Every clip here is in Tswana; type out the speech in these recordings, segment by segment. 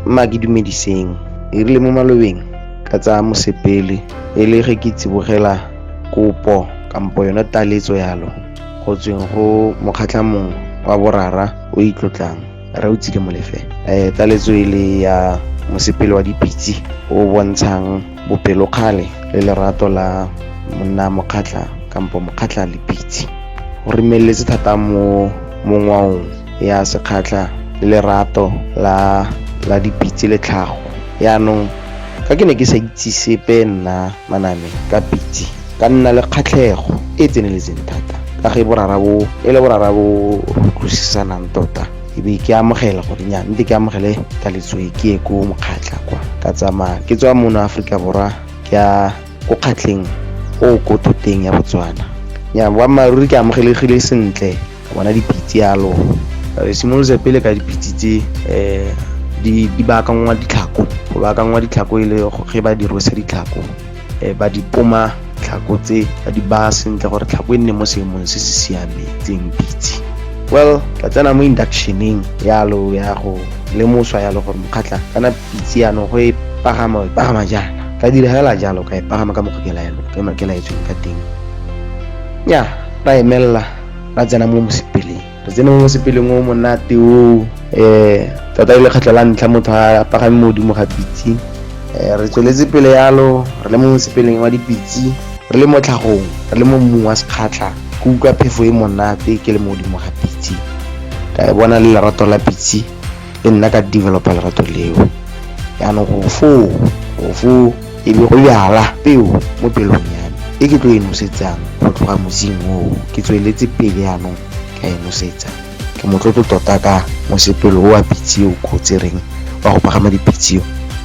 mma ke dumediseng e rile mo malobeng ka tsaya mosepele e le ge ke tsibogela kopo kampo yona taletso yalo go tsweng go mokgatlha mongwe wa borara o itlotlang re o tsile molefe um taletso e le ya mosepele wa dipitse o bontshang bopelokgale le lerato la monna mokgatlha kampo mokgatlha lepitse o remeletse thata mo mo ngwaong ya sekgatlha le lerato la la dipitse le tlhago yaanong ka ke ne ke sa itse sepe nna manane ka pitse ka nna le kgatlhego e e tseneletseng thata ka ge borara bo e le borara bo utlwisisanang tota e be ke amogela gore nya nte ke amogele ka letsoe ke ye ko mokgatlha kwa ka tsamaya ke tswa mono aforika borwa ke ya ko kgatlheng o ko thoteng ya botswana nya boammaaruri ke amogelegile sentle bona dipitse yalo re simolotse pele ka dipitse tse um di baakangwa ditlhako go baakangwa ditlhako e le ge ba dirose ditlhako um ba di poma tlhako tse ba di baya sentle gore tlhako e nne mo seemong se se siametseng pitse well ka tsena mo inductioneng yalo ya go lemoswa yalo gore mokgatlha kana pitse yano go e pagama e pagama jaana ka dira fela jalo ka e pagama ka mokgwa ke laetsweng ka teng ya ra emelela ra tsena mo mosepeleng re tsene mo mosepeleng o monate o um eh, tota e le kgetlho la ntlha motho a pagame mo godimo ga pitse um eh, re tsweletse pele yalo re le mo mosepeleng wa dipitse re le mo tlhagong re le mo mmung wa sekgatlha ke utlwa phefo e monate ke le mo godimo ga pitse ka e bona le lerato la pitse le nna ka developa lerato leo yaanong go foo go foo e be go jala peo mo pelong ya me e ke tlo e nosetsang go tloga mosing oo ke tsweletse pele yanong ka e nosetsa ke motlotlo tota ka mosepelo o wa pitse o kgotsereng wa go pagama dipitse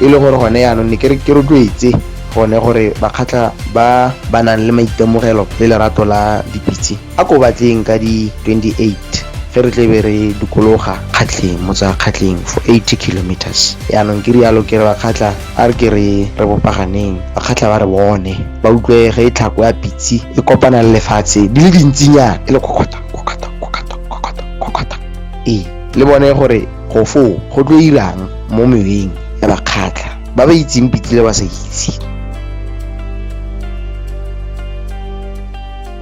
e le gore gone yanong ne ke re ke rotloetse gone gore bakgatlha ba ba nang le maitemogelo le lerato la dipitse A ko batleng ka di 28 ge re tlebe re dikologa kgatlheng motsa kgatlheng for 80 kilometers yaanong ke rialo ke re bakgatlha a re ke re re bopaganeng bakgatlha ba re bone ba utlwe ge e tlhako ya pitse e kopana le lefatshe di le dintsinyana e le kokota kokota kokota kokota kokota ee le bone gore go foo go tlo irang mo meweng ya bakgatlha ba ba itseng pitse le ba sa itse